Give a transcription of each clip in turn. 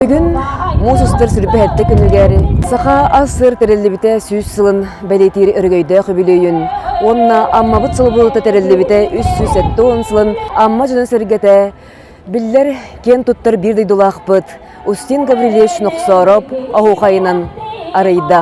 Бүгүн муус устар сүрбэһэттэ күнүгэр саха ас-сыр тэриллибитэ сүүс сылын бэлиэтиир өрөгөйдөөх үбүлүөйүн уонна Аммабыт сылы буолута тэриллибитэ үс сүүс сэттэ уон сылын Амма дьоно-сэргэтэ биллэр киэн туттар биир дойдулаахпыт Устин Гаврильевич Нохсоороп оһуохайынан арыйда.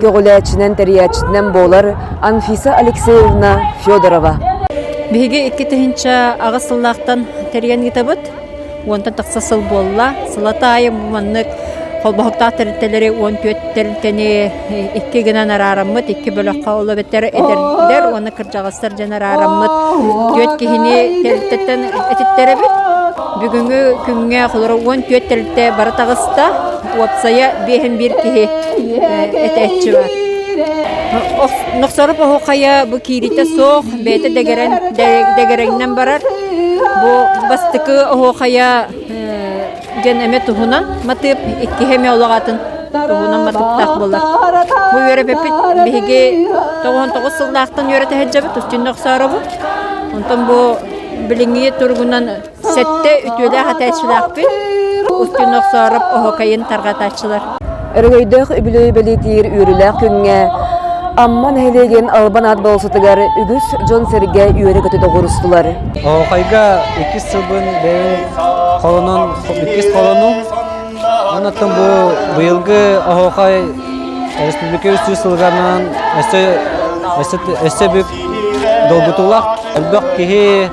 көҕүлээччинэн тэрийээччитинэн буолар Анфиса Алексеевна Федорова. Биһиги икки тыһынча аҕыс сыллаахтан тэрийэн ыытабыт. Уонтан тахса сыл буолла. Сылата айы маннык холбоһуктаах тэрилтэлэри 14 тэрилтэни икки гынан араараммыт, икки бөлөххө оло бэтэр эдэрдэр уонна кырдьаҕастар дьэн араараммыт түөрт киһини тэрилтэттэн этиттэрэбит. Бүгүҥҥү күҥҥэ холоро 14 тэрилтэ бары таҕыста. уопсайа биэһин биир киһи этээччи баар. Нохсоруп оһуохайа бу киириитэ суох, бэйэтэ дэгэрэн дэгэрэҥнэн барар. Бу бастакы оһуохайа диэн эмэ туһунан матыып иккиһэ эмэ олоҕатын туһунан матыыптаах буолар. Бу үөрэппиппит биһиги тоҕуһун тоҕус сыллаахтан үөрэтэһэ дьэбит, устин нохсооробут. Онтон бу билиҥҥи туругунан Сэттэ үтүөлээх этээччилээхпит. Устин Охсоороп оһокайын тарҕатааччылар. Өрөгөйдөөх үбүлүөй бэлиэтиир үөрүүлээх күҥҥэ Амма нэһилиэгин Албан аат болсутугар үгүс дьон-сэргэ үөрэ-көтө доҕурустулар. Оһокайга иккис сылбын бэйэм холонон иккис холонум. Онон бу быйылгы Оһокай республика үстүү сылганан өссө өссө өссө бүк долгутуулаах. Элбэх киһи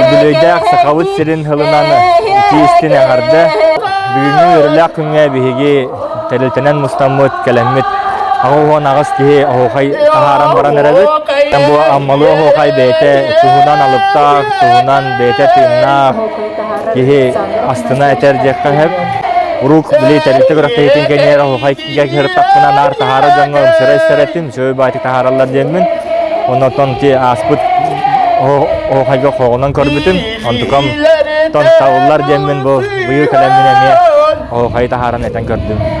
Үбүлүөйдээх Сахабыт сирин тылынан итии истин эҥэрдэ бүгүҥҥү үөрүүлээх күҥҥэ биһиги тэрилтэнэн мустаммыт, кэлэммит аҕыс аҕыс киһи оһуохай таһааран баран эрэбит. Бу Аммалыы оһуохай бэйэтэ туһунан алыптаах, туһунан бэйэтэ тыыннаах киһи астына этэр диэххэ сөп. Урук били тэрилтэ күрэхтэһиитин кэннэр оһуохай дьэ кыһыртахпына наар таһаара дьоҥҥо ымсыра истэрэттим сөй баайдык таһаараллар диэммин оннуттан ити ааспыт оһохайга хоҕунан көрбүтүм онтукам тон сабыллар диэммин бу быйыл кэлэммин эмиэ оһохайы таһааран этэн көрдүм